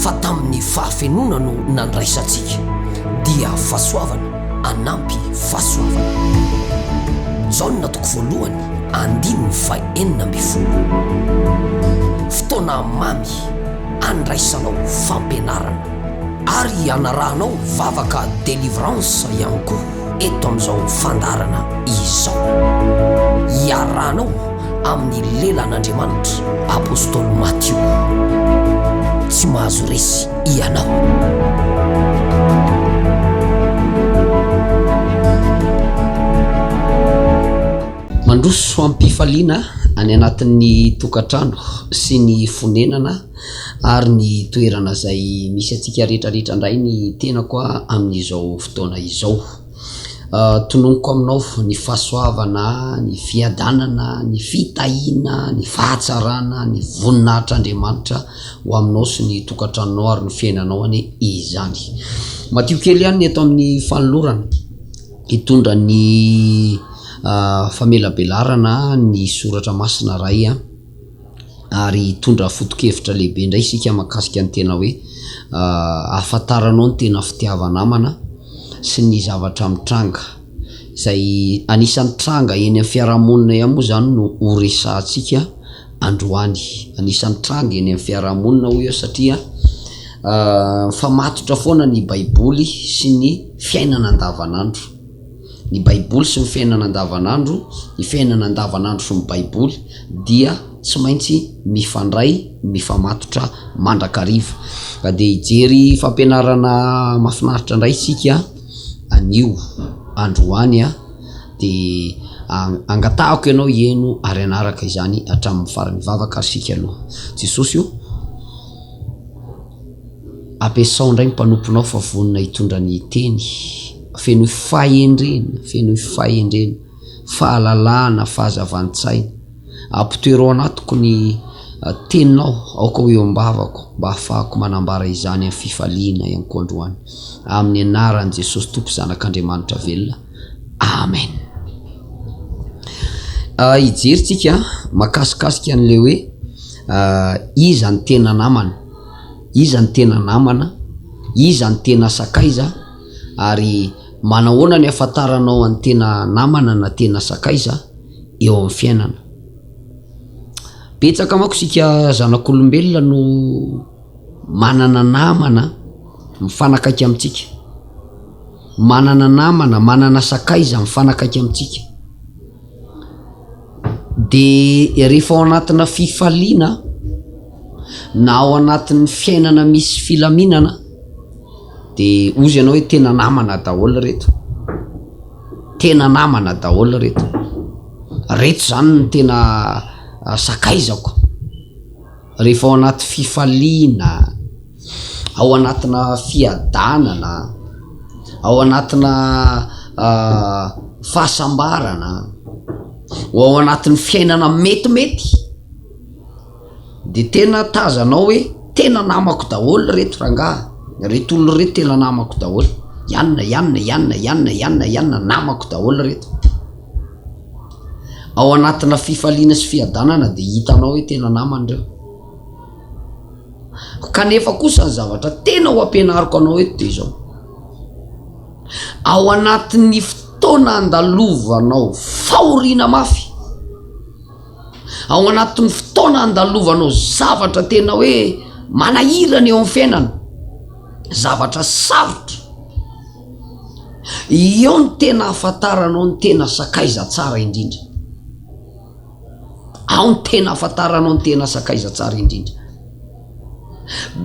Fa tamin'ny fahafenoana no nandraisantsika, dia fahasoavana anampy fahasoavana. Jaona toko voalohany andininy fahenina ambin'ny folo. Fotoana mamy andraisanao fampianarana. Ary anarahanao vavaka delivrance ihany koa. eto amin'izao fandaharana izao. Iarahanao amin'ny lelan'Andriamanitra Apostoly Matio. Tsy mahazo resy ianao. Mandroso am-pifaliana any anatin'ny tokantrano sy ny fonenana. Ary ny toerana izay misy antsika rehetra rehetra indray ny tenako amin'izao fotoana izao. Tononiko aminao ny fahasoavana, ny fiadanana, ny fitahiana, ny fahatsarana, ny voninahitr'Andriamanitra ho aminao sy ny tokantranonao ary ny fiainanao anie izany. Madio kely ihany ny eto amin'ny fanolorana hitondra ny famelabelarana ny soratra masina Ray a. ary hitondra foto-kevitra lehibe indray isika mahakasika ny tena hoe ahafantaranao ny tena fitiava-namana sy ny zavatra mitranga, izay anisan'ny tranga eny amin'ny fiarahamonina ihany moa izany no ho resahantsika androany. Anisan'ny tranga eny amin'ny fiarahamonina hoy aho satria mifamatotra foana ny Baiboly sy ny fiainana andavanandro. Ny Baiboly sy ny fiainana andavanandro, Ny fiainana andavanandro sy ny Baiboly dia tsy maintsy mifandray, mifamatotra mandrakariva. Ka dia hijery fampianarana mahafinaritra indray isika anio androany a! dia angatahako ianao hihaino ary hanaraka izany hatramin'ny farany. Vavaka ary isika aloha. Jesosy o! Ampiasao indray ny mpanomponao fa vonona hitondra ny Teny. Fenoy fahendrena, fenoy fahendrena, fahalalahana, fahazavan-tsaina. Ampitoero ao anatiko ny Teninao, aoka ho eo am-bavako, mba hahafahako manambara izany amin'ny fifaliana ihany koa androany. Amin'ny anaran'i Jesosy Tompo Zanak'Andriamanitra velona. Amen. Ah, hijery tsika mahakasikasika an'ilay hoe ah, iza ny tena namana. Iza ny tena namana? Iza ny tena sakaiza? Ary manahoana ny ahafantaranao ny tena namana na tena sakaiza eo amin'ny fiainana? Betsaka manko isika zanak'olombelona no manana namana mifanakaiky amintsika, manana namana, manana sakaiza mifanakaiky amintsika. Dia rehefa ao anatina fifaliana aho na ao anatin'ny fiainana misy filaminana dia hozy ianao hoe tena namana daholo ireto, tena namana daholo ireto, ireto izany no tena sakaizako. Rehefa ao anaty fifaliana, ao anatina fiadanana, ao anatina fahasambarana, ao anatin'ny fiainana metimety dia tena tazanao hoe tena namako daholo reto rangahy, reto olona reto tena namako daholo, ianona, ianona, ianona, ianona, ianona, ianona, namako daholo reto. Ao anatina fifaliana sy fiadanana dia hitanao hoe tena namana ireo. Kanefa kosa ny zavatra tena ho ampianariko anao eto dia izao. Ao anatin'ny fotoana andalovanao fahoriana mafy, ao anatin'ny fotoana andalovanao zavatra tena hoe manahirana eo amin'ny fiainana, zavatra sarotra, Eo no tena ahafantaranao ny tena sakaiza tsara indrindra. Ao no tena ahafantaranao ny tena sakaiza tsara indrindra.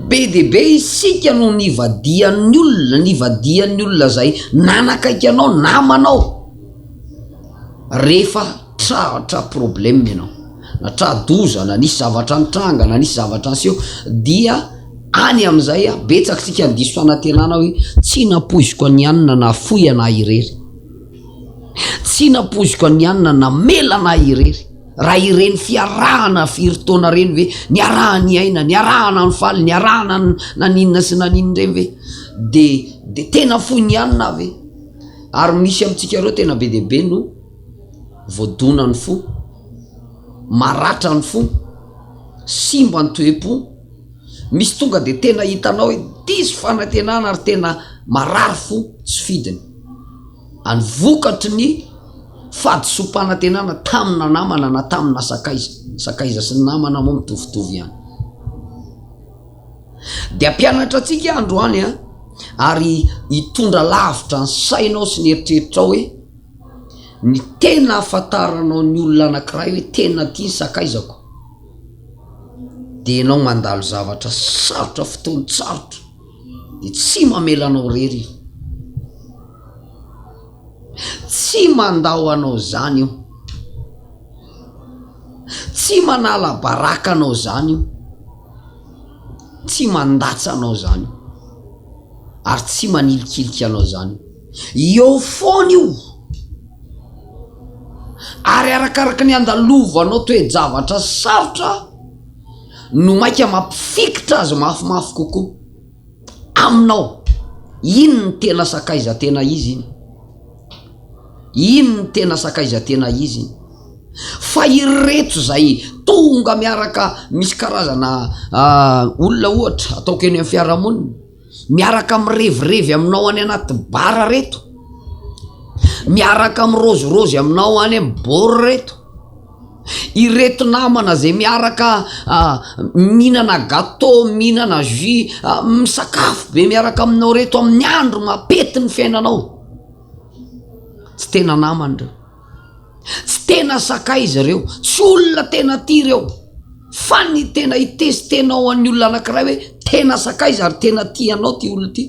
Be dia be isika no nivadihan'ny olona, nivadihan'ny olona izay nanakaiky anao, namanao, rehefa. tratra problème ianao, na tra-doza, na nisy zavatra nitranga, na nisy zavatra niseho, dia any amin'izay an, betsaka isika ny diso fanantenana hoe tsy nampoiziko an'i an na nahafoy an'ahy irery, tsy nampoiziko an'i an na namela an'ahy irery, raha ireny fiarahana firy taona ireny ve, niaraha-niaina, niaraha-nanifaly, niaraha-naninona sy naninona ireny ve, dia dia tena foin'i an aho ve, ary misy amintsika ireo tena be dia be no. Voadona ny fo, maratra ny fo, simba ny toe-po, misy tonga dia tena hitanao hoe diso fanantenana ary tena marary fo tsy fidiny. Any vokatry ny fahadisoam-panantenana tamina namana na tamina sakaiza, ny sakaiza sy ny namana moa mitovitovy ihany. Dia mpianatra antsika androany ary hitondra lavitra ny sainao sy ny eritreritrao hoe. Ny tena ahafantaranao ny olona anankiray hoe tena tia ny sakaizako dia ianao mandalo zavatra sarotra, fotoan-tsarotra dia tsy mamela anao irery io, tsy mandao anao izany io, tsy manala baraka anao izany io, tsy mandatsa anao izany io ary tsy manilikilika anao izany io. Eo foana io. Ary arakaraka ny andalovanao toe-javatra sarotra no maika mampifikitra azy mafimafy kokoa aminao. Iny ny tena sakaiza tena izy iny. Iny ny tena sakaiza tena izy iny. Fa ireto izay tonga miaraka misy karazana olona ohatra ataoko eny amin'ny fiarahamonina. Miaraka mirevirevy aminao any anaty bar reto. Miaraka mirozirozy aminao any amin'ny bor reto. Ireto namana izay miaraka ah, mihinana gâteau, mihinana jus, ah, misakafo be miaraka aminao reto amin'ny andro mapety ny fiainanao. Tsy tena namana ireo. Tsy tena sakay izy ireo, tsy olona tena tia ireo. Fa ny tena hitesitenao an'ny olona anankiray hoe tena sakaiza ary tena tia anao ity olona ity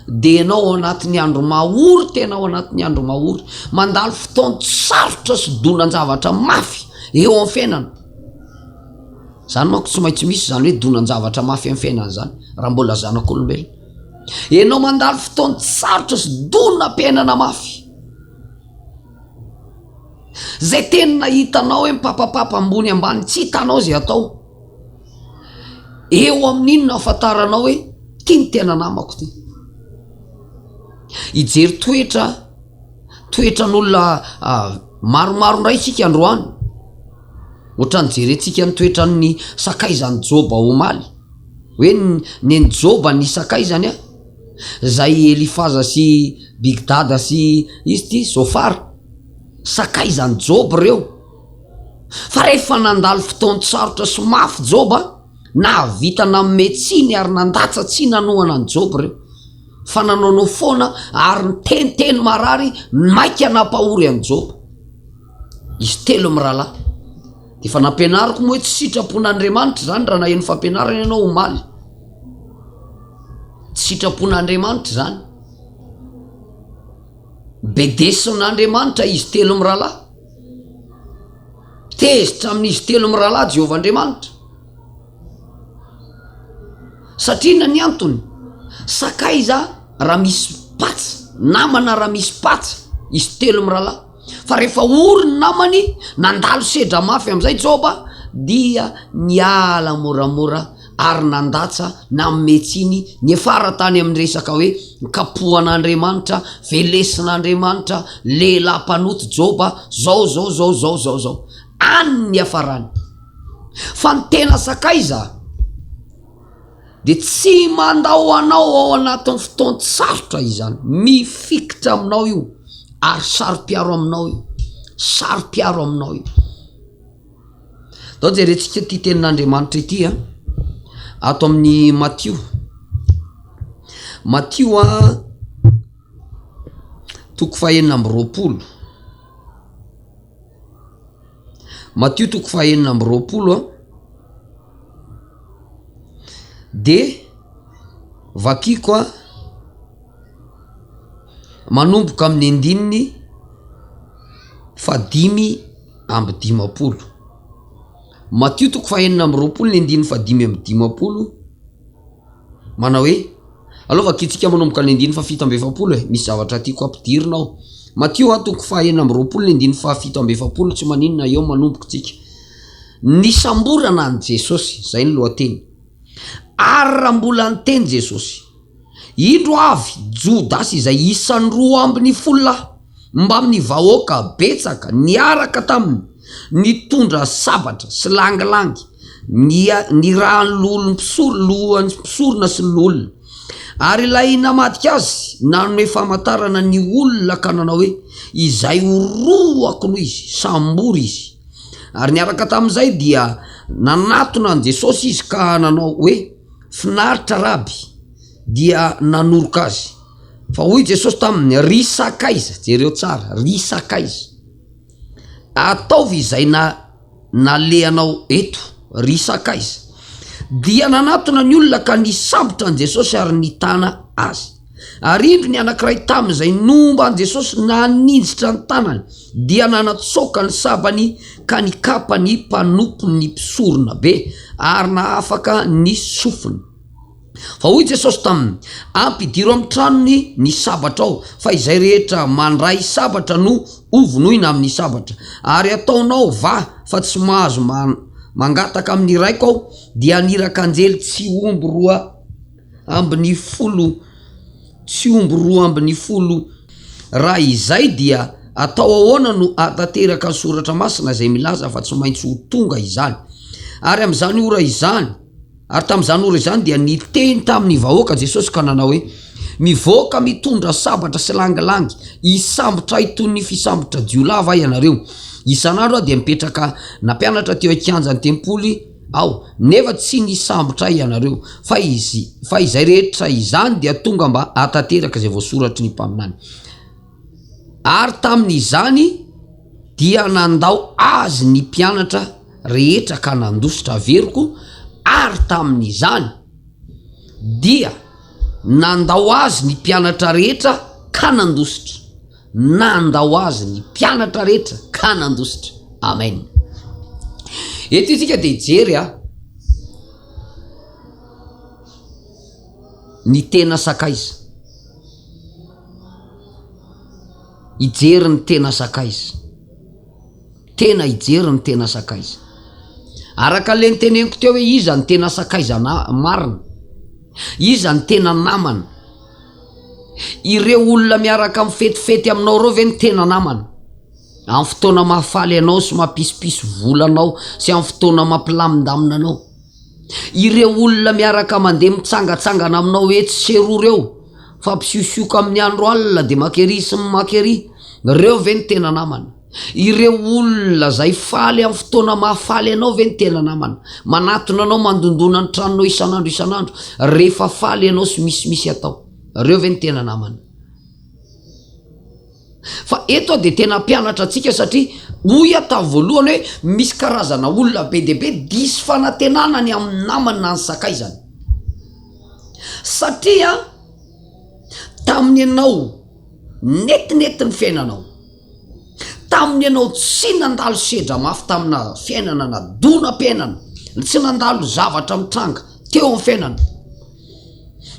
dia ianao ao anatin'ny andro mahory tena ao anatin'ny andro mahory. Mandalo fotoan-tsarotra sy donan-javatra mafy eo amin'ny fiainana. Izany manko tsy maintsy misy izany hoe donan-javatra mafy amin'ny fiainana izany raha mbola zanak'olombelona. Ianao mandalo fotoan-tsarotra sy donam-piainana mafy. Zay tena hitanao hoe mipapapapa ambony ambany tsy hitanao zay atao eo amin'iny no ahafantaranao hoe ty ny tena namako ty hijery toetra toetran'olona maromaro indray isika androany ohatrany jerentsika ny toetran'ny sakaizan'i joba omaly hoe ny an'i joba ny sakaizany a Zay Elifaza sy Bigdada sy izy ty Zofara? Sakay zany Joba reo. Fa rehefa nandalo fotoan-tsarotra sy mafy Joba, nahavita nanome tsiny ary nandatsa tsy nanohana an'i Joba reo. Fa nanaonao foana ary niteniteny marary maika nampahory an'i Joba. Izy telo mirahalahy. Efa nampianariko moa hoe tsy sitrapon'Andriamanitra zany raha naheno fampianarana ianao omaly. Tsy sitrapon'Andriamanitra izany. Bedesin'Andriamanitra izy telo mirahalahy. Tezitra amin'izy telo mirahalahy Jehovah Andriamanitra. Satria inona ny antony? Sakaiza raha misy patsa, namana raha misy patsa izy telo mirahalahy. Fa rehefa ory ny namany, nandalo sedra mafy amin'izay Joba, dia niala moramora ary nandatsa, nanome tsiny, niafara tany amin'ny resaka hoe kapohan'Andriamanitra, velesin'Andriamanitra, lehilahy mpanota Joba, zao, zao, zao, zao, zao, zao. Any ny niafarany. Fa ny tena sakaiza? dia tsy mandao anao ao anatin'ny fotoan-tsarotra izany. Mifikitra aminao io ary saro-piaro aminao io. Saro-piaro aminao io. Dao jerentsika ity tenin'Andriamanitra ity a. Ato amin'ny Matio. Matio a toko fahenina amby roapolo. Matio toko fahenina amby roapolo a de vakiko a manomboka amin'ny andininy fa dimy amby dimapolo matio toko fahenina amby roapolo ny andininy fa dimy amby dimapolo. Manao hoe, Aleo vakintsika manomboka ny andininy fahafito amby efapolo e, misy zavatra tiako ampidirina ao. Matio a, toko fahenina amby roapolo ny andininy fahafito amby efapolo, tsy maninona, eo manomboka tsika. Nisamborana an'i Jesosy, izay ny lohateny. Ary raha mbola niteny Jesosy, Indro avy, Jodasy izay isan'ny roa ambin'ny folo lahy. mbamin'ny vahoaka betsaka niaraka taminy nitondra sabatra sy langilangy nirahan'ny loholom-mpisolo-lohan'ny mpisorona sy ny loholona. Ary ilay namadika azy nanome famantarana ny olona ka nanao hoe, Izay horohako no izy, sambory izy. Ary niaraka tamin'izay dia nanatona an'i Jesosy izy ka nanao hoe, Finaritra, Raby! Dia nanoroka azy. Fa hoy Jesosy taminy, Ry sakaiza, jereo tsara, ry sakaiza, ataovy izay na, nalehanao eto, ry sakaiza. Dia nanatona ny olona ka nisambotra an'i Jesosy ary nitana Azy. Ary indro ny anankiray tamin'izay nomba an'i Jesosy naninjitra ny tanany, dia nanatsoaka ny sabany ka nikapa ny mpanompon'ny mpisoronabe ary nahafaka ny sofiny. Fa hoy Jesosy taminy, Ampidiro amin'ny tranony ny sabatrao, fa izay rehetra mandray sabatra no hovonoina amin'ny sabatra. Ary ataonao vaha fa tsy mahazo mangataka amin'ny Raiko Aho, dia haniraka anjely tsy omby roa ambin'ny folo, tsy omby roa ambin'ny folo. Raha izay, dia atao ahoana no hahatanteraka ny Soratra Masina izay milaza fa tsy maintsy ho tonga izany? Ary amin'izany ora izany, Ary tamin'izany ora izany dia niteny tamin'ny vahoaka Jesosy ka nanao hoe, Mivoaka mitondra sabatra sy langilangy hisambotra ahy toy ny fisambotra jiolahy va ianareo? Isan'andro aho dia mipetraka nampianatra teo an-kianjan'ny tempoly aho, nefa tsy nisambotra ahy ianareo. Fa fa izay rehetra izany dia tonga mba hahatanteraka izay voasoratry ny mpaminany. Ary tamin'izany dia nandao azy ny mpianatra rehetra ka nandositra averiko, ary tamin'izany dia nandao azy ny mpianatra rehetra ka nandositra, nandao azy ny mpianatra rehetra ka nandositra. Amen. Eto isika dia hijery a. ny tena sakaiza? hijery ny tena sakaiza? tena hijery ny tena sakaiza? araka le niteneniko teo hoe iza ny tena sakaiza marina? iza ny tena namana? ireo olona miaraka mifetifety aminao ireo ve no tena namana? amin'ny fotoana mahafaly anao sy mampisopiso vola anao sy amin'ny fotoana mampilamindamina anao Ireo olona miaraka mandeha mitsangatsangana aminao etsy sy eroa reo fa mpisiosioka amin'ny andro alina de maka ery sy maka ery, reo ve no tena namana? Ireo olona zay faly amin'ny fotoana mahafaly anao ve no tena namana? Manatona anao mandondona ny tranonao isan'andro isan'andro rehefa faly ianao sy misimisy atao, reo ve no tena namana? Fa eto dia tena hampianatra antsika satria hoy aho tamin'ny voalohany hoe misy karazana olona be dia be diso fanantenana ny amin'ny namany na ny sakaizany. Satria tamin'ny ianao netinety ny fiainanao, tamin'ny ianao tsy nandalo sedra mafy tamina fiainana na donam-piainana, tsy nandalo zavatra mitranga teo amin'ny fiainana.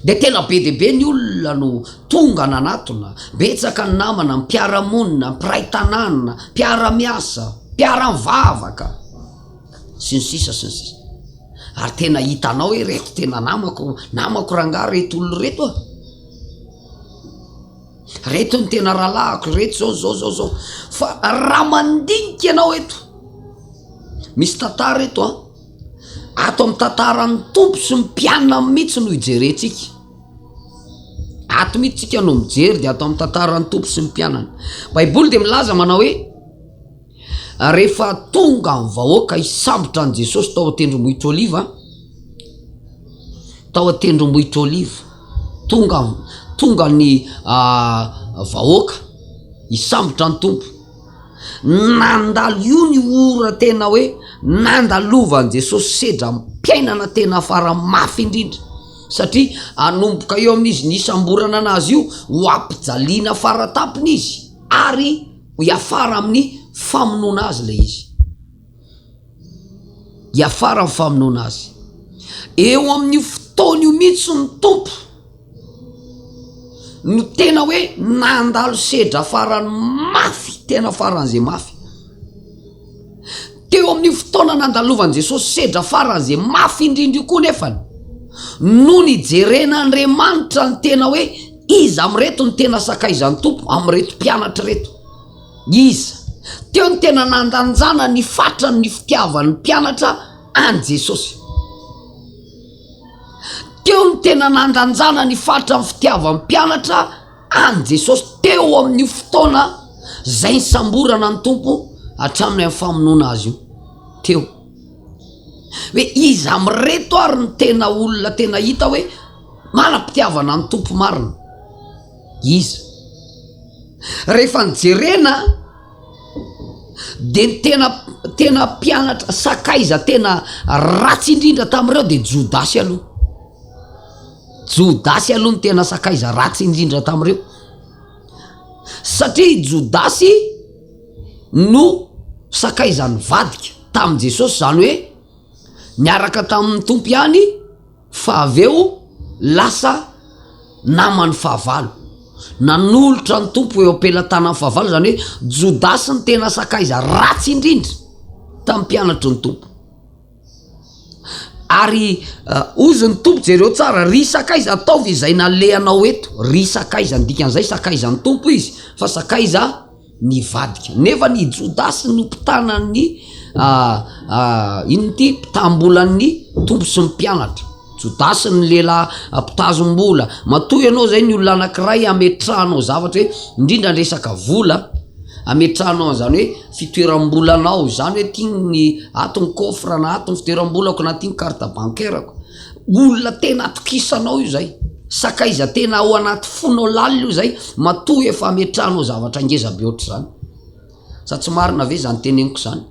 Dia tena be dia be ny olona no tonga nanatona, betsaka ny namana, mpiara-monina, mpiray tanàna, mpiara-miasa, mpiara-mivavaka, sy ny sisa sy ny sisa. Ary tena hitanao hoe ireto tena namako, namako rangahy ireto olona ireto a! Ireto ny tena rahalahiko, ireto izao, izao, izao, izao. Fa raha mandinika ianao eto, misy tantara eto an! Ato amin'ny tantaran'ny Tompo sy ny mpianany mihitsy no hijerentsika. Ato mihitsy tsika no mijery dia ato amin'ny tantaran'ny Tompo sy ny mpianany. Baiboly dia milaza manao hoe rehefa tonga ny vahoaka hisambotra an'i Jesosy tao an-tendrombohitra Oliva, tao an-tendrombohitra Oliva, tonga tonga ny ah, vahoaka hisambotra ny Tompo. Nandalo io ny ora tena hoe nandalovan'i Jesosy sedram-piainana tena fara mafy indrindra, satria hanomboka eo amin'izy nisamborana an'Azy io ho hampijaliana fara tampony Izy, ary hiafara amin'ny famonoana Azy ilay izy. Hiafara amin'ny famonoana Azy. Eo amin'io fotoana io mihitsy ny Tompo. no tena hoe nandalo sedra farany mafy tena faran'izay mafy teo amin'ny fotoana nandalovan'i Jesosy sedra faran'izay mafy indrindra io koa nefany no nijerena Andriamanitra ny tena hoe iza amin'ireto ny tena sakaizan'ny tompo amin'ireto mpianatra ireto iza teo ny tena nandanjana ny fatrany ny fitiavan'ny mpianatra any Jesosy Teo no tena nandanjana ny faritra ny fitiavan'ny mpianatra an' i Jesosy teo amin' io fotoana izay nisamborana ny Tompo hatramin' ny famonoana Azy io teo hoe iza amin' ireto ary no tena olona tena hita hoe manam-pitiavana ny Tompo marina? Iza? Rehefa nijerena. dia ny tena tena mpianatra sakaiza tena ratsy indrindra tamin'ireo dia jodasy aloha jodasy aloha ny tena sakaiza ratsy indrindra tamin'ireo satria jodasy no sakaizan'ny vadika tamin'i jesosy izany hoe niaraka tamin'ny tompo ihany Fa avy eo lasa naman'ny fahavalo. Nanolotra ny Tompo eo am-pelatanan'ny fahavalo, izany hoe Jodasy ny tena sakaiza ratsy indrindra tamin'ny mpianatry ny Tompo. Ary hozy ny Tompo, jereo tsara, ry sakaiza ataovy izay nalehanao eto. Ry sakaiza, ny dikan'izay, sakaizan'ny Tompo izy fa sakaiza. nivadika. Nefa ny Jodasy no mpitana ny inona ty mpitambolan'ny Tompo sy ny mpianatra. Jodasy ny lehilahy mpitazom-bola. Matoa ianao zay ny olona anankiray hametrahanao zavatra hoe indrindra ny resaka vola, hametrahanao an'izany hoe fitoeram-bolanao izany hoe ty ny ato ny coffre na ato ny fitoeram-bolako na ty ny carte bancaire-ko. Olona tena atokisanao io zay. Sakaiza tena ao anaty fonao lalina io zay matoa efa ametrahanao zavatra ngeza be ohatr'izany. Sa tsy marina ve zany teneniko zany?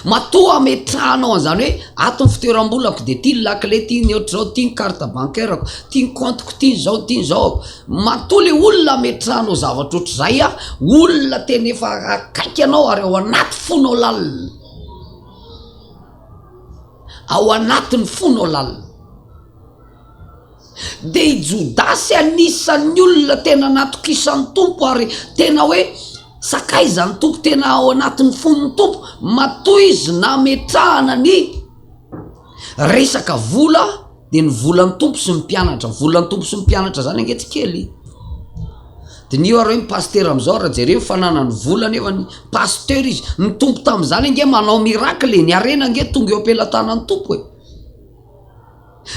Matoa ametrahanao an'izany hoe ato ny fitoeram-bolako dia ty ny lakile, ty ny ohatr'izao, ty ny carte bancaire-ko, ty ny compte-ko, ty ny zao, ty ny zao. Matoa le olona ametrahanao zavatra ohatr'izay a, olona tena efa akaiky anao ary ao anaty fonao lalina. Ao anatin'ny fonao lalina. Dia i Jodasy anisan'ny olona tena natokisan'ny Tompo ary tena hoe, Sakaizan'ny Tompo, tena ao anatin'ny fon'ny Tompo, matoa izy nametrahana ny resaka vola, dia ny volan'ny tompo sy ny mpianatra volan'ny tompo sy ny mpianatra zany ange tsy kely diniho ary hoe ny pasitera am'izao raha jereo ny fananany vola nefa ny pasitera izy ny tompo tamin'izany ange manao miracle ny harena ange tonga eo am-pelatanan'ny tompo e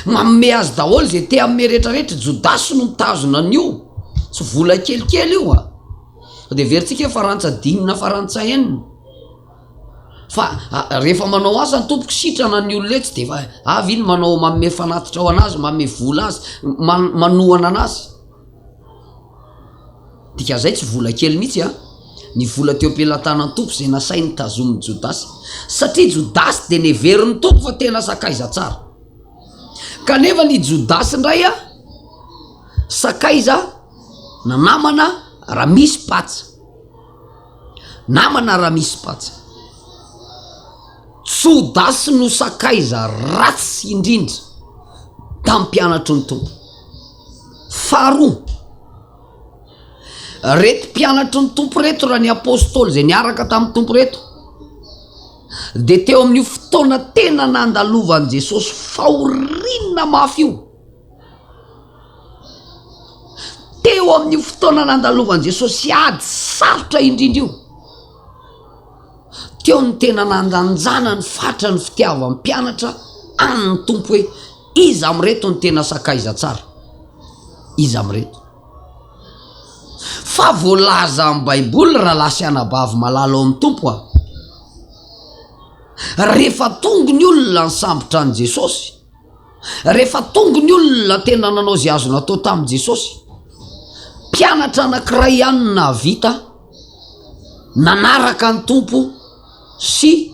maome azy daholo zay te aome rehetrarehetra jodasy no mitazona ny io tsy vola kelikely io a fa de verintsika hoe farantsa dimy na farantsa enina Fa rehefa manao asa ny tompoko sitrana ny olona etsy de efa avy iny manao manome fanatitra ho anazy, manome vola azy, man- manohana anazy. Dikan'izay tsy vola kely mihitsy an, ny vola teo am-pelatanan'ny tompo izay nasainy tazomin'i Jodasy. Satria Jodasy dia neverin'ny tompo fa tena sakaiza tsara. Kanefa ny Jodasy indray an, sakaiza na namana raha misy patsa. Namana raha misy patsa. Jodasy no sakaiza ratsy indrindra tamin'ny mpianatry ny Tompo. Faharoa, reto mpianatry ny Tompo reto raha ny apôstôly izay niaraka tamin'ny Tompo reto dia teo amin'io fotoana tena nandalovan'i Jesosy fahoriana mafy io. Teo amin'io fotoana nandalovan'i Jesosy ady sarotra indrindra io, teo no tena nandanjana ny fatra ny fitiavan'ny mpianatra an'ny Tompo hoe iza amin'ireto no tena sakaiza tsara, iza amin'ireto. Fa voalaza amin'ny Baiboly ry rahalahy sy anabavy malala ao amin'ny Tompo a! rehefa tonga ny olona nisambotra an'i Jesosy, Rehefa tonga ny olona tena nanao izay azo natao tamin'i Jesosy, mpianatra anankiray ihany no nahavita nanaraka ny Tompo sy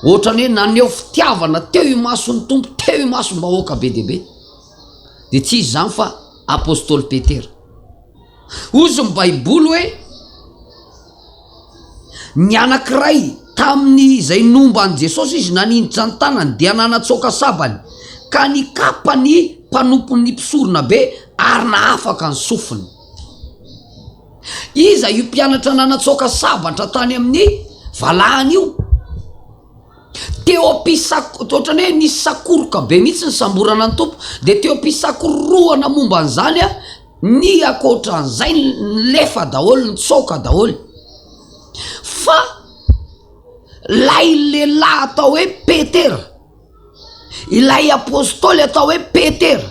ohatrany hoe naneho fitiavana teo imason'ny Tompo, teo imason'ny vahoaka be dia be. Dia tsy izy izany fa apostoly Petera. Hoy ny Baiboly hoe, Ny anankiray tamin'izay nomba an'i Jesosy izy naninjitra ny tanany dia nanatsoaka sabany, ka nikapa ny mpanompon'ny mpisoronabe ary nahafaka ny sofiny. Iza io mpianatra nanatsoaka sabatra tany amin'ny valahany io? Teo am-pisako, ohatran'ny hoe nisy sakoroka be mihitsy ny samborana ny Tompo, dia teo am-pisakororohana momba an'izany, Ny akoatran'izay nilefa daholo, nitsoaka daholo. Fa ilay lehilahy atao hoe Petera, ilay apôstôly atao hoe Petera,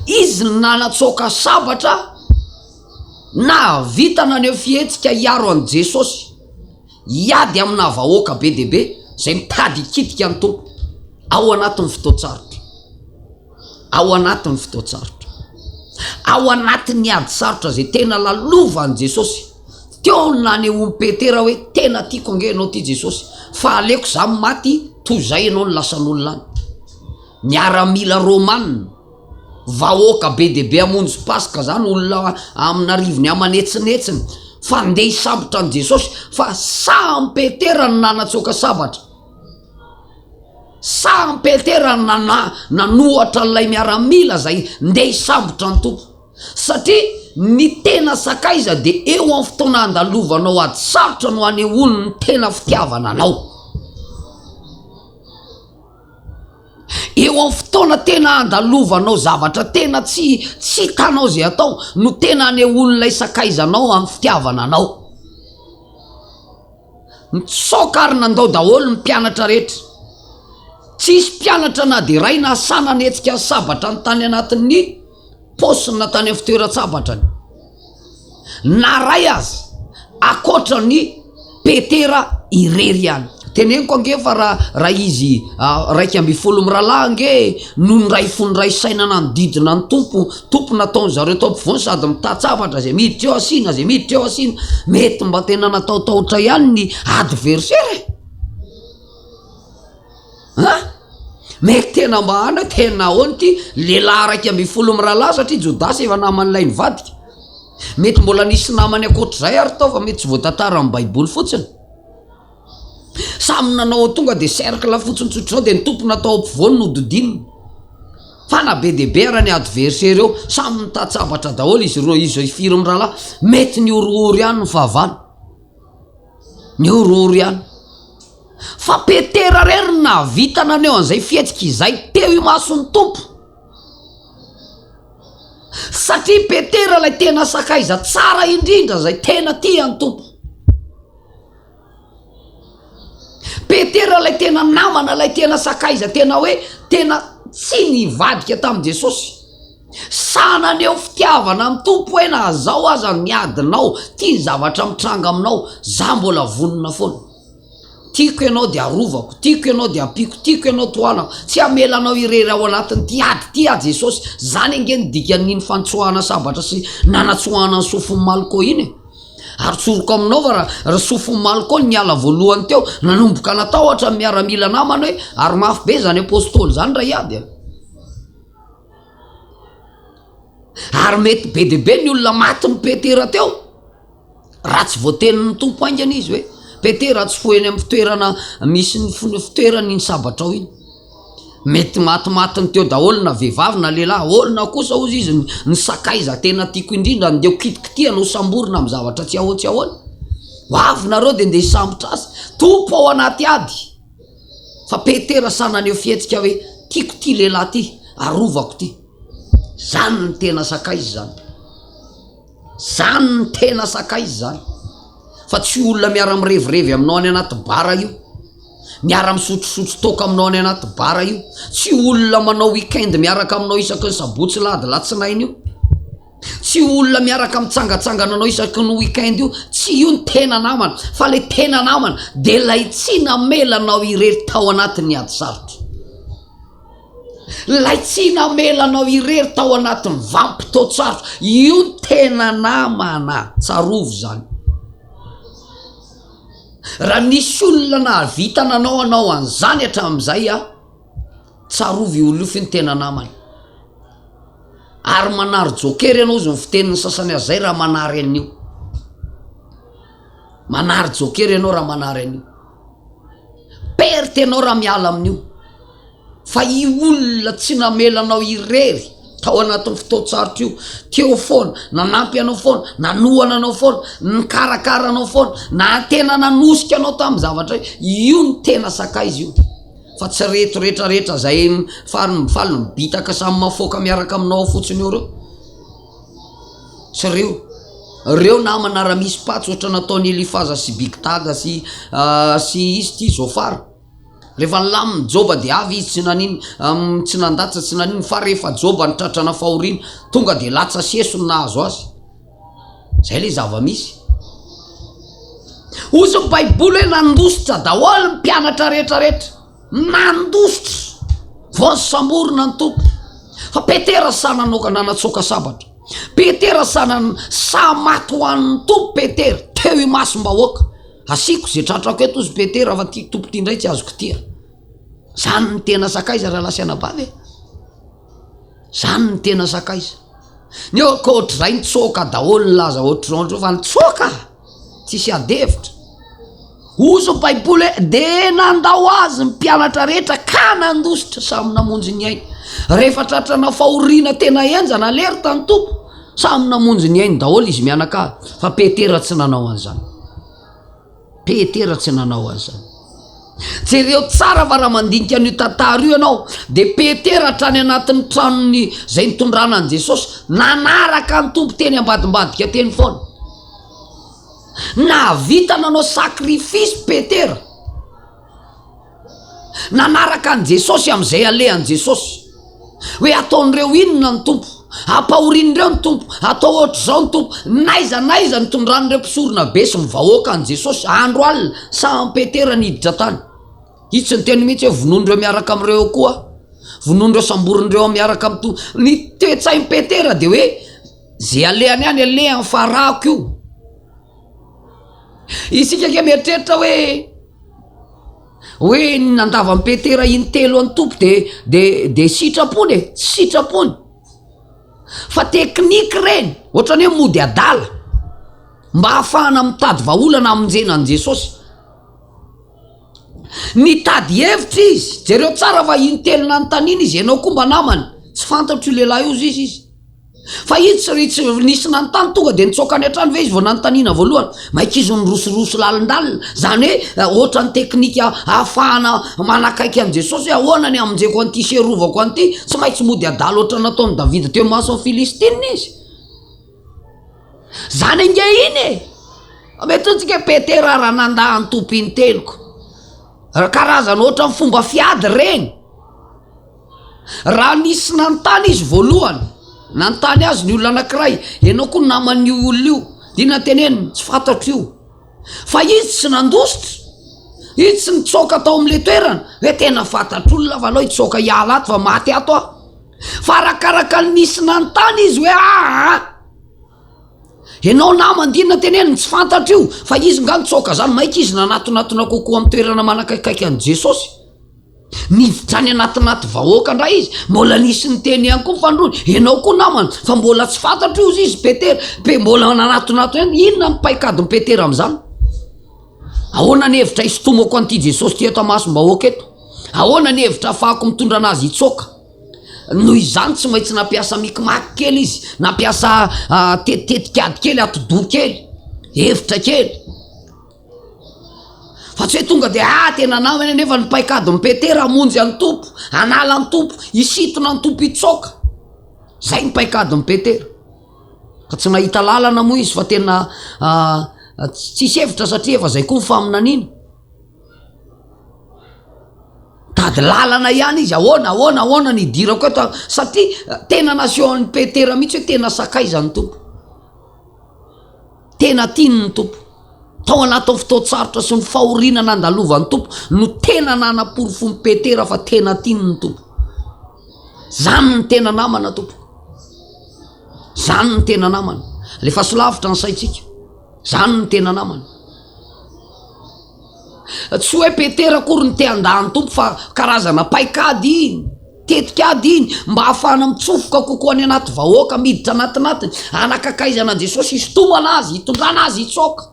izy nanatsoaka sabatra nahavita naneho fihetsika hiaro an'i Jesôsy, hiady aminà vahoaka be dia be izay mitady hikitika ny Tompo ao anatin'ny fotoan-tsarotra. Ao anatin'ny fotoan-tsarotra, ao anatin'ny ady sarotra izay tena lalovan'i Jesosy, teo ny nanehoan'i Petera hoe, Tena tiako ange ianao ity Jesosy, fa aleoko izaho ny maty toy izay ianao no lasan'olona any. Miaramila romanina, vahoaka be dia be hamonjy Paska izany, olona amin'arivony aman'etsinetsiny, fa handeha hisambotra an'i Jesosy, fa samy Petera no nanatsoaka sabatra. Sarin Peter nana nanohatra an'ilay miaramila izay ndeha hisambotra ny Tompo. Satria ny tena sakaiza dia eo amin'ny fotoana handalovanao ady sarotra no hanehoany ny tena fitiavana anao. Eo amin'ny fotoana tena handalovanao zavatra tena tsy tsy hitanao izay atao no tena hanehoan'ilay sakaizanao amin'ny fitiavana anao. Nitsoaka ary nandao daholo ny mpianatra rehetra. Tsy hisy mpianatra na dia iray nahasahy nanetsika ny sabatrany tany anatin'ny paosiny na tany amin'ny fitoeran-tsabatrany. Na iray aza, ankoatra ny Petera irery ihany. Teneniko ange fa raha izy iraika ambin'ny folo mirahalahy ange no niray fo niray saina nanodidina ny Tompo, Tompony nataon'i zareo tao ampovoany sady mitatsa hafatra izay miditra eo asiana izay miditra eo asiana. Mety mba tena nataotaotra ihany ny adversaire e. Ha? Mety tena mba ana tena ahoana ity lehilahy iraika ambin'ny folo mirahalahy satria Jodasy efa naman'ilay nivadika. Mety mbola nisy namany ankoatr'izay ary tao fa mety tsy voatantara amin'ny Baiboly fotsiny. Samy nanao ho tonga dia cercle fotsiny tsotra izao dia ny tompony atao ampovoany no dodinina. Fa na be dia be ara ny adversaire eo, samy mitan-tsabatra daholo izy roa izy zao firy mirahalahy, mety ny horohoro ihany ny fahavalo. Ny horohoro ihany. Fa Petera rery no nahavita naneho an'izay fihetsika izay teo imason'ny Tompo. Satria Petera ilay tena sakaiza tsara indrindra izay tena tia ny Tompo. Petera ilay tena namana, ilay tena sakaiza tena hoe tena tsy nivadika tamin'i Jesosy. Sa naneho fitiavana amin'ny Tompo hoe na zao aza ny adinao, ity ny zavatra mitranga aminao, za mbola vonona foana. Tiako ianao dia arovako, tiako ianao dia ampiako, tiako ianao tohanako, tsy hamela anao irery ao anatin'ity ady ity aho Jesosy. Zany ange ny dikan'iny fanitsoahana sabatra sy nanatsoahana ny sofin'i Malko iny e. Atsoriko aminao fa ry Sofimaly koa niala voalohany teo, nanomboka natahotra ny miaramila namany hoe ary mafy be izany Apostoly izany raha hiady a! Ary mety be dia be ny olona matin'i Petera teo raha tsy voatenin'ny Tompo haingana izy hoe Petera tsy foy eny amin'ny fitoerana misy ny fitoerany iny sabatrao iny. Mety matimatiny teo daholo na vehivavy na lehilahy. Olona kosa, hozy izy, ny sakaiza tena tiako indrindra, andeha ho kitikitihana, ho samborina amin'ny zavatra tsy ahoa tsy ahoana. Ho avy nareo dia andeha hisambotra azy. Tompo ao anaty ady. Fa Petera sahy naneho fihetsika hoe, Tiako ity lehilahy ity, arovako ity. Izany no tena sakaiza izany. Zany no tena sakaiza zany fa tsy olona miara mirevirevy aminao any anaty bar io, miara misotrosotro toaka aminao any anaty bar io, tsy olona manao week-end miaraka aminao isaky ny sabotsy lahady latsinainy io, tsy olona miaraka mitsangatsangana anao isaky ny week-end io, tsy io ny tena namana fa le tena namana de lay tsy namela anao irery tao anatin'ny ady sarotra. Ilay tsy namela anao irery tao anatin'ny vanim-potoan-tsarotra, io no tena namana, tsarovy izany. Raha nisy olona nahavita nanao anao an'izany hatramin'izay, tsarovy io olona io fa io no tena namana. Ary manary joker ianao, hoy ny fitenin'ny sasany azy izay, raha manary an'io. Manary jokera ianao raha manary an'io. Perte ianao raha miala amin'io. Fa i olona tsy namela anao irery tao anatin'ny fotoan-tsarotra io, teo foana, nanampy anao foana, nanohana anao foana, nikarakara anao foana, na tena nanosika anao tamin'ny zavatra io, io no tena sakaiza io. Fa tsy reto rehetra rehetra izay faly faly mibitaka samy mafoaka miaraka aminao fotsiny eo ireo. Tsy reo. Reo namana ra misy patsa ohatry ny nataon'i Elifaza sy Big Daga sy sy izy ty Zôfara rehefa nilaminy Jôba de avy izy tsy nanino tsy nandatsa tsy nanino fa rehefa Jôba nitratrana fahoriana tonga de latsa sy eso no nahazo azy. Zay le zava-misy. Ozy ny baiboly hoe nandositra daholo ny mpianatra rehetra rehetra. Nandositra vao nisamborina ny Tompo. Fa Petera sa nanoka nanatsoaka sabatra. Petera sa nan sa maty ho an'ny Tompo Petera teo imasom-bahoaka. Asiako izay tratrako eto ozy Petera fa ty Tompo ty indray tsy azo kitia. Zany ny tena sakaiza rahalahy sy anabavy e. Zany ny tena sakaiza. Neo koa ohatrizay nitsoaka daholo ny laza ohatrizao ohatrizao fa nitsoaka. Tsisy ady hevitra. Hozy ny Baiboly hoe, Dia nandao azy ny mpianatra rehetra ka nandositra, samy namonjy ny ainy. Rehefa tratrana fahoriana tena henjana lery tany Tompo, samy namonjy ny ainy daholo izy mianakavy. Fa Petera tsy nanao an'izany. Petera tsy nanao an'izany. Jereo tsara fa raha mandinika an'io tantara io ianao, dia Petera hatrany anatin'ny tranony izay nitondrana an'i Jesosy, nanaraka ny Tompo teny ambadimbadika teny foana. Nahavita nanao sacrifice Petera. Nanaraka an'i Jesosy amin'izay alehan'i Jesosy. Hoe ataon'ireo inona ny Tompo? Ampahorin'ireo ny Tompo, atao ohatr'izao ny Tompo. N'aiza n'aiza ny tondran'ireo mpisorona be sy ny vahoaka an'i Jesosy. Andro alina, saham Petera niditra tany. Izy tsy niteny mihitsy hoe vonoin'ireo miaraka amin'ireo eo koa aho. Vonoin'ireo samborin'ireo aho miaraka amin'ny to. Ny toe-tsain'i Petera dia hoe Ze alehany any alehany fa rako io. Isika ange mieritreritra hoe hoe ny nandavan'i Petera intelo an'ny Tompo de de de sitrapony e, tsy sitrapony. Fa teknika ireny, ohatrany hoe mody adala mba hahafahana mitady vahaolana hamonjena an'i Jesosy. Nitady hevitra izy, jereo tsara fa intelo nanontaniana izy, ianao koa mba namany, tsy fantatro io lehilahy io ziz izy. Fa izy tsy ry tsy nisy nanontany tonga dia nitsoaka any an-trano ve izy vao nanontaniana voalohany? Maika izy nirosoroso lalindalina. Izany hoe ohatra ny teknika ahafahana manakaiky an'i Jesosy hoe ahoana ny hamonjeko an'ity sy hiarovako an'ity, tsy maintsy mody adala ohatra ny nataon'i Davida teo imason'ny Filistina izy. Izany ange iny e! Mety antsika hoe Petera raha nandà ny tompin'ny teniko. Karazana ohatra ny fomba fiady ireny. Raha nisy nanontany izy voalohany, nanontany azy ny olona anankiray, Ianao koa naman'io olona io? Dia inona no teneniny? Tsy fantatro io. Fa izy tsy nandositra. Izy tsy nitsoaka tao amin'ilay toerana hoe tena fantatr'olona fa alao hitsoaka hiala ato fa maty ato aho. Fa arakaraka ny nisy nanontany izy hoe aa, ianao namany dia inona no teneniny? Tsy fantatro io. Fa izy nga nitsoaka izany, maika izy nanatonatona kokoa amin'ny toerana manakaikaika an'i Jesosy. Niditra any anatinaty vahoaka indray izy. Mbola nisy niteny ihany koa ny fandroany, Ianao koa namana, fa mbola tsy fantatro io izy Petera. Pe, mbola nanatinato ihany. Inona ny paikadin'i Petera amin'izany? Ahoana ny hevitra hisintomako an'ity Jesosy ity eto amasom-bahoaka eto? Ahoana ny hevitra hafahako mitondra anazy hitsoaka? Noho izany tsy maintsy nampiasa mikimaky kely izy, nampiasa ah, tetikady kely, atidoha kely, hevitra kely. Fa tsy hoe tonga dia ah tena anao eny anefa ny paikady mipetera hamonjy an'i Tompo, hanala an'i Tompo, hisintona an'i Tompo hitsaoka. Izay ny paikady mipetera. Ka tsy nahita lalana moa izy fa tena tsisy hevitra satria efa izay koa ny faminaniana. Tady lalana ihany izy ahoana ahoana ahoana ny hidirako eto satria tena nasehon'i Petera mihitsy hoe tena sakaizan'i Tompo. Tena tiany ny Tompo. Tao anatin'ny fotoan-tsarotra sy ny fahoriana nandalovan'ny Tompo no tena nanaporofon'i Petera fa tena tiany ny Tompo. Izany ny tena namana Tompo. Izany ny tena namana. Alefaso lavitra ny saintsika. Izany ny tena namana. Tsy hoe Petera akory no te handà ny Tompo fa karazana paikady iny, tetikady iny mba hahafahana mitsofoka kokoa any anaty vahoaka miditra anatinatiny, hanakakaizana an'i Jesosy, hisintomana Azy, hitondrana Azy hitsoaka.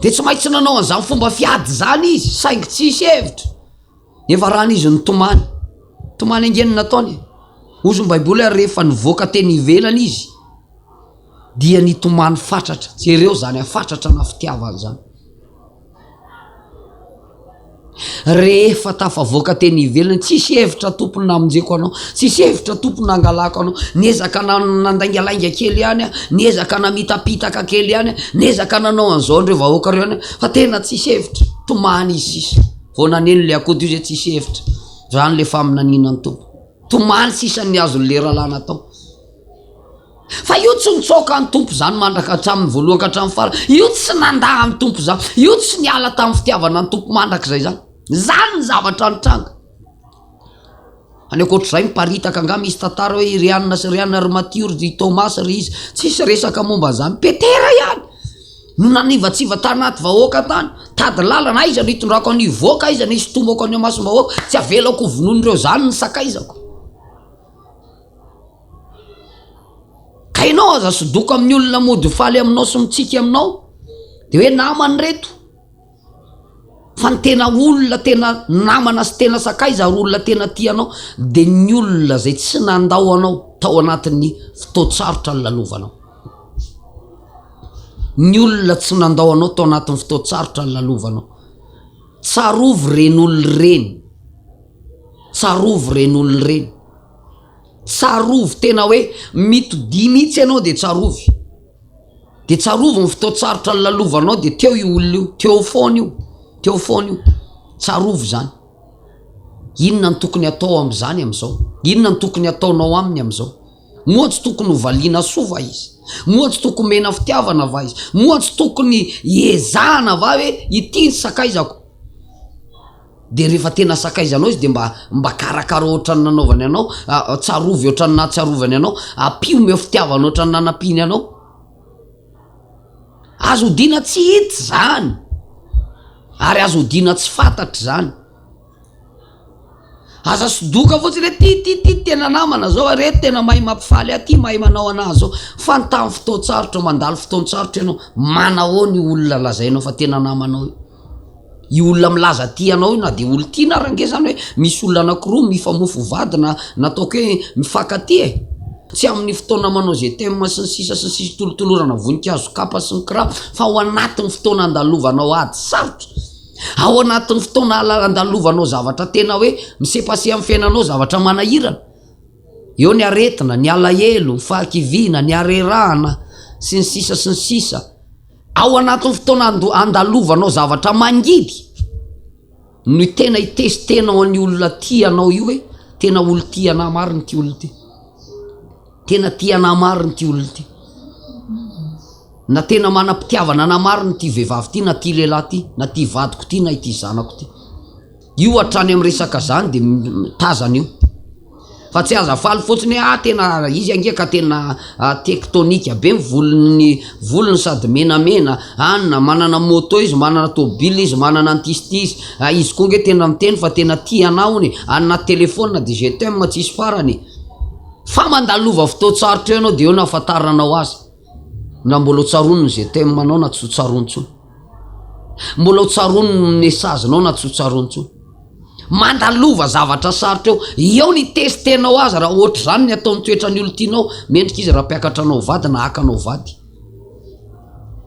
Dia tsy maintsy nanao an'izany fomba fiady izany izy, saingy tsisy hevitra. Nefa rany izy nitomany. Tomany ange ny nataony e. Hozy ny baiboly ary rehefa nivoaka teny ivelany izy dia nitomany fatratra. Jereo izany hafatratra na fitiavana izany. Rehefa tafavoaka teny ivelany, tsisy hevitra tompony namonjeko anao, tsisy hevitra tompony nangalako anao, niezaka nandaingalainga kely ihany aho, niezaka namitapitaka kely ihany aho, niezaka nanao an'izao an'ireo vahoaka ireo ihany aho, fa tena tsisy hevitra, tomany izy sisa. Vao naneno le akoho dio zay tsisy hevitra, zany le faminaniana ny Tompo. Tomany sisa ny azon'ny lera lana tao. Fa io tsy nitsaoka amin'ny Tompo zany mandraka hatramin'ny voalohany ka hatramin'ny farany. Io tsy nandà amin'ny Tompo zany. Io tsy niala tamin'ny fitiavana ny Tompo mandrakizay zany. Zany ny zavatra nitranga. Any ankoatr'izay miparitaka angaha misy tantara hoe i Rianina sy Rianina ry Matio ry Thomas ry iza, tsisy resaka momba an'izany. Petera ihany no nanivatsiva tany anaty vahoaka tany, tady lalana, aiza no hitondrako an'io hivoaka, aiza no hisintomako any imasom-bahoaka, tsy havelako hovonoin'ireo zany ny sakaizako. Ka ianao aza sodoko amin'ny olona mody faly aminao sy mitsiky aminao, dia hoe namany ireto. Fa ny tena olona tena namana sy tena sakaiza ary olona tena tia anao dia ny olona izay tsy nandao anao tao anatin'ny fotoan-tsarotra nilalovanao. Ny olona tsy nandao anao tao anatin'ny fotoan-tsarotra nilalovanao. Tsarovy ireny olona ireny. Tsarovy ireny olona ireny. Tsarovy tena hoe mitodia mihitsy ianao dia tsarovy. Dia tsarovy ny fotoan-tsarotra nilalovanao dia teo io olona io, teo foana io, teo foana io. Tsarovy izany. Inona no tokony atao amin'izany amin'izao? Inona no tokony ataonao aminy amin'izao? Moa tsy tokony hovaliana soa va izy? Moa tsy tokony mena fitiavana va izy? Moa tsy tokony hiezahana va hoe ity ny sakaizako? dia rehefa tena sakaizanao izy dia mba mba karakaro ohatran'ny nanaovany anao tsarovy ohatran'ny nahatsarovany anao ampio meo fitiavana ohatran'ny nanampiany anao azo odiana tsy hita izany ary azo odiana tsy fantatra izany aza sodoka fotsiny hoe ty ty ty tena namana zao a reto tena mahay mampifaly aty mahay manao anah zao fa ny tamin'ny fotoan-tsarotra mandalo fotoan-tsarotra ianao manahoa ny olona lazainao fa tena namanao io io olona milaza tia anao io na dia olon-tiana ary ange zany hoe misy olona anankiroa mifamofo vady na na ataoko hoe mifankatia e! tsy amin'ny fotoana manao izay thème sy ny sisa sy ny sisa tolotolorana voninkazo kapa sy ny kira fa ao anatin'ny fotoana andalovanao ady sarotra ao anatin'ny fotoana andalovanao zavatra tena hoe misepaseha amin'ny fiainanao zavatra manahirana eo ny aretina ny alahelo ny fahakiviana ny harerahana sy ny sisa sy ny sisa Ao anatin'ny fotoana andalovanao zavatra mangidy no tena hitesitenao an'io olona tia anao io hoe tena olon-tia anà marina ity olona ity. Tena tia anà marina ity olona ity. Na tena manam-pitiavana anà marina ity vehivavy ity na ity lehilahy ity na ity vadiko ity na ity zanako ity. Io hatrany am resaka zany de tazana io. Fa tsy aza faly fotsiny hoe ah tena izy ange ka tena tektonika be ny volony volony sady menamena an, manana moto izy, manana tôbila izy, manana antisty izy, ah izy koa nge tena miteny fa tena tia anah hono e, any anaty telephone de je t'aime tsisy farany e. Fa mandalova fotoan-tsarotra eo ianao de eo no ahafantaranao azy. Ndra mbola ho tsaroany ny GTM-nao na tsy ho tsaroany intsony. Mbola ho tsaroany ny message-nao na tsy ho tsaroany intsony. Mandalova zavatra sarotra eo. Eo ny test-nao aza raha ohatra izany ny ataon'ny toetran'ny olon-tianao. Mendrika izy raha mpiakatra anao ho vady na haka anao ho vady.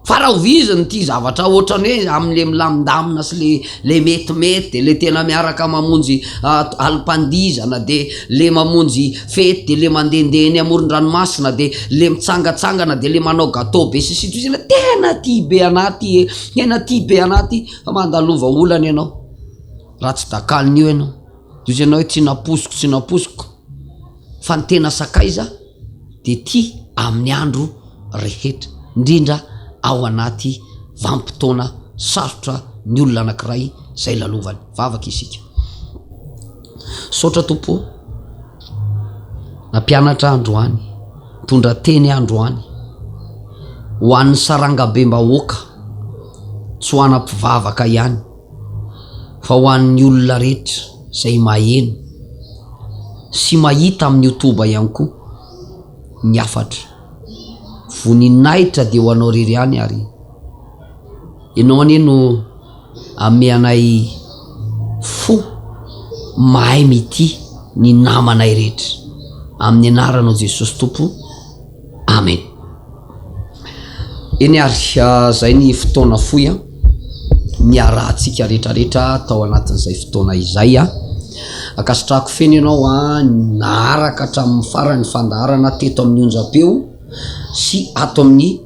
Fa raha hoviziny ity zavatra ohatrany hoe amin'ilay milamindamina sy ilay ilay metimety dia ilay tena miaraka mamonjy ah, alim-pandihizana dia ilay mamonjy fety de le mandendeha eny amoron-dranomasina de le mitsangatsangana de le manao gateau be sy sitrisy le tena tia be anah ty e tena tia be anah ty fa mandalova olana ianao raha tsy dakalin'io ianao de ozy ianao hoe tsy nampoiziko tsy nampoiziko fa ny tena sakaiza de tia amin'ny andro rehetra indrindra ao anaty vanim-potoana sarotra ny olona anankiray zay lalovany Vavaka isika. Misaotra Tompo o. Nampianatra ahy androany. Nitondra teny ahy androany. Ho an'ny sarangabem-bahoaka, tsy ho ana mpivavaka ihany, fa ho an'ny olona rehetra izay maheno sy mahita amin'ny youtube ihany koa ny hafatra. Voninahitra dia ho anao irery ihany ary. Ianao anie no ame anay fo mahay mitia ny namanay rehetra amin'ny anaranao Jesosy Tompo Amen. Eny ary zay ny fotoana fohy a niarahantsika retraretra tao anatin'izay fotoana izay a ankasitrahako feno ianao a naharaka hatramin'ny farany fandaharana teto amin'ny onjam-peo sy ato amin'ny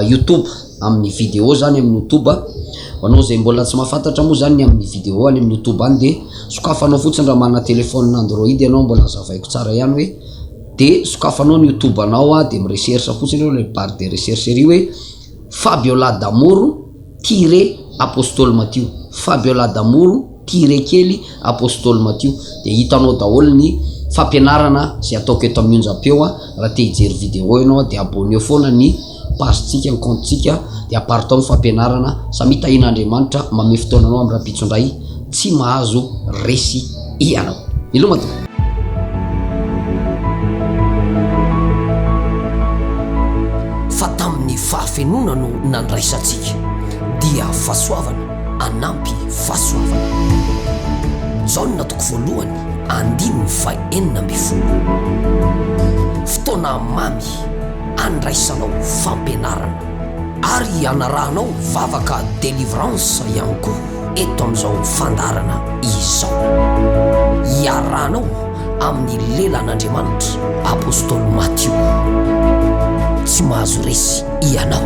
youtube amin'ny vidéo zany amin'ny youtube anao izay mbola tsy mahafantatra moa zany ny amin'ny vidéo any amin'ny youtube any dia sokafanao fotsiny raha manana téléphone android ianao mbola hazavaiko tsara ihany hoe dia sokafanao ny youtube anao ah dia mirecherche fotsiny eo ilay barre de recherche ery hoe Fabiola Damoro tire Apostole Matio Fabiola Damoro Tiré kely Apostoly Matio dia hitanao daholo ny fampianarana izay ataoko eto amin'ny onjam-peo a, raha te hijery vidéo ianao dia abonneo foana ny page-tsika, ny compte-tsika dia apart ao ny fampianarana, samia tahian'Andriamanitra mamehy fotoana anao amin'ny rahampitso indray, tsy mahazo resy ianao. Miloma tompoko. Fa tamin'ny fahafenoana no nandraisantsika dia fahasoavana. hanampy fahasoavana. Jaona toko voalohany andininy faha enina ambin'ny folo. Fotoana mamy handraisanao fampianarana ary hanarahanao vavaka delivrance ihany koa eto amin'izao fandaharana izao. Iarahanao amin'ny lelan'Andriamanitra. Apostoly Matio, tsy mahazo resy ianao.